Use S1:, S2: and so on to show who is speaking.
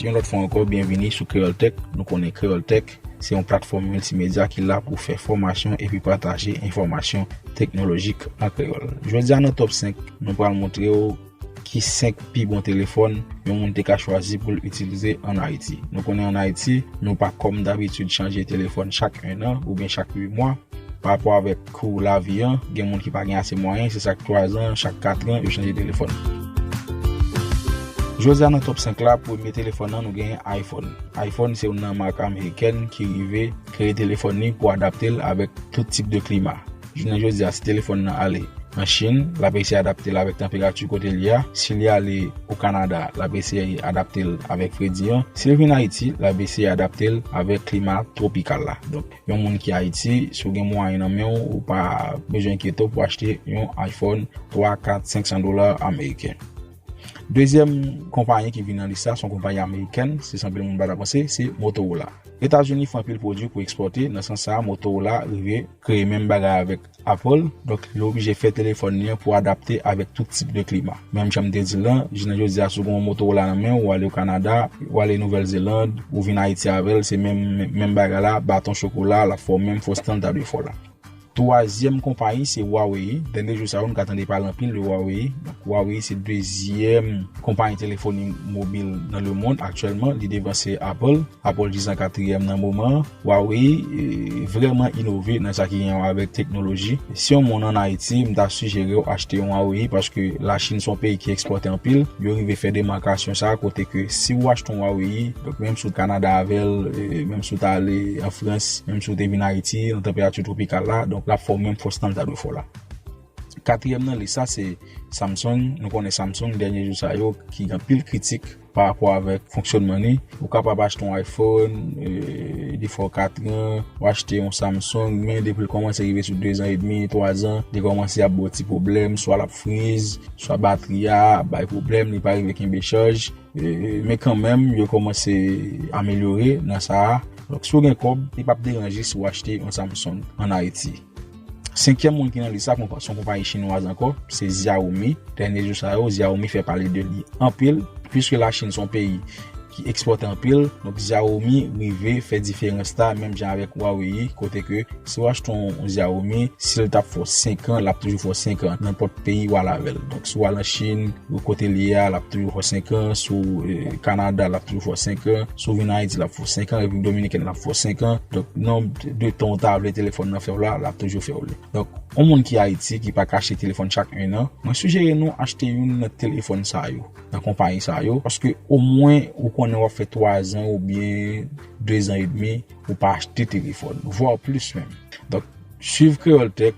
S1: Yon lòt fwa ankò, byenvini sou Kreyòl Tèk. Nou konnen Kreyòl Tèk se yon platfòm miltimedya ki la pou fè fòmasyon epi pataje enfòmasyon teknolojik an kreyòl. Jodi a nan Top 5, nou pral montre w ki 5 pi bon telefòn yon moun te ka chwazi pou l itilize ann Ayiti. Nou konnen ann Ayiti, nou pa kòm dabitid chanje telefòn chak ennan oubyen chak 8 mwa pa rapò avèk. Kou lavi an, gen moun ki pa gen ase mwayen, se chak 3 zan, chak 4 an, yo chanje telefòn. Jodi a nan Top 5 la, premye telefòn nan nou genyen iPhone. iPhone se youn nan mak amerikèn ki rive kreye telefòn li pou adapte l avèk tout tip de klima. Jounen jodi a, si telefòn nan ale an Chin, l ap eseye adapte l avèk tanperati kote li a, si li ale o Kanada, l ap eseye adapte l avèk fredi an, si l vin Ayiti, l ap eseye adapte l avèk klima twopikal la. Donk, Yon moun ki Ayiti, si w gen mwayen nan men w, ou pa bezwen enkyete w pou achte yon iPhone 3, 4, 500 dola ameriken. Dezyèm konpayi ki vini nan lis la, se yon konpayi amerikèn, se sa anpil moun pa ta panse, se Motorola. Etazini fè anpil pwodui pou ekspòte, nan sans sa a Motorola rive kreye menm bagay avèk. Apple, donk yo oblije fè telefòn li an pou adapte avèk tout tip de klima. Menm jan m te di l lan, jounen jodi a si w gen yon Motorola nan men w, ou ale o Kanada, ou ale Nouvèl Zeland, ou vin Ayiti avè l, se menm menm bagay la, baton chokola, l ap fè w menm fo stan l ta dwe fè w la. Twazyèm konpayi se Huawei, dènye jou sa yo nou ka tande pale anpil de Huawei, donk Huawei se dezyèm konpayi telefoni mobil nan lemond aktyèlman, li devanse Apple, Apple jis an katriyèm nan moman an. Waw wi vreman inove nan sa ki gen wè avèk teknoloji. Si yon moun an Ayiti m ta sijerew achte yon Huawei paske la chine son peyi ki ekspòte anpil yo rive fè demakasyon sa kote ke si ou achte yon Huawei donk menm si ou t Canada avèl menm si ou t ale an Frans menm si ou te vin Ayiti nan tanperati twopikal la donk lap fè w menm fòs tan l ta dwe fè w la. Katriyèm nan lis la se Samsung nou konnen Samsung dènye jou sa yo ki gen anpil kritik. Pa rapò avèk fonksyònman li, ou kapab achte yon iPhone, defo 4 an, ou achte yon Samsung, men depi l kòmanse rive sou 2 zan edmi, 3 zan, li kòmanse ap ba w ti pwoblèm, swa l ap friz, swa batri a ap bay pwoblèm, li pa rive kenbe chaj, men kanmèm yo kòmanse amelyore nan sa a, donk si w gen kòb, li p ap deranje si w achte yon Samsung an Ayiti. Senkyèm moun ki nan lis la se yon konpayi chinwaz ankò, se Xiaomi. Dènye jou sa yo, Xiaomi fè pale de li anpil. Piske Lachin se yon peyi ki ekspòte anpil, donk Xiaomi rive fè diferans la menm jan avèk Huawei kote ke si ou achte yon Xiaomi, si l ta fè w 5 an, l ap toujou fè w 5 an, nenpòt peyi ou al avè l. Donk si ou al an Chin, kote li ye a, l ap toujou fè w 5 an, si ou Kanada, l ap toujou fè w 5 an. Si w vin Ayiti l ap fè w 5 an, Repiblik Dominikèn l ap fè w 5 an. Donk nonb de tan ou ta vle telefòn nan fè w la, l ap toujou fè w li. Donk, yon moun ki Ayiti ki pa ka achte telefòn chak 1 an, mwen sijere nou achte youn nan telefòn sa yo, nan konpayi sa yo. Paske omwen ou konnen w ap fè 3 zan oubyen 2 zan edmi ou pa achte telefòn, vwa plis menm. Donk, swiv Kreyòl Tèk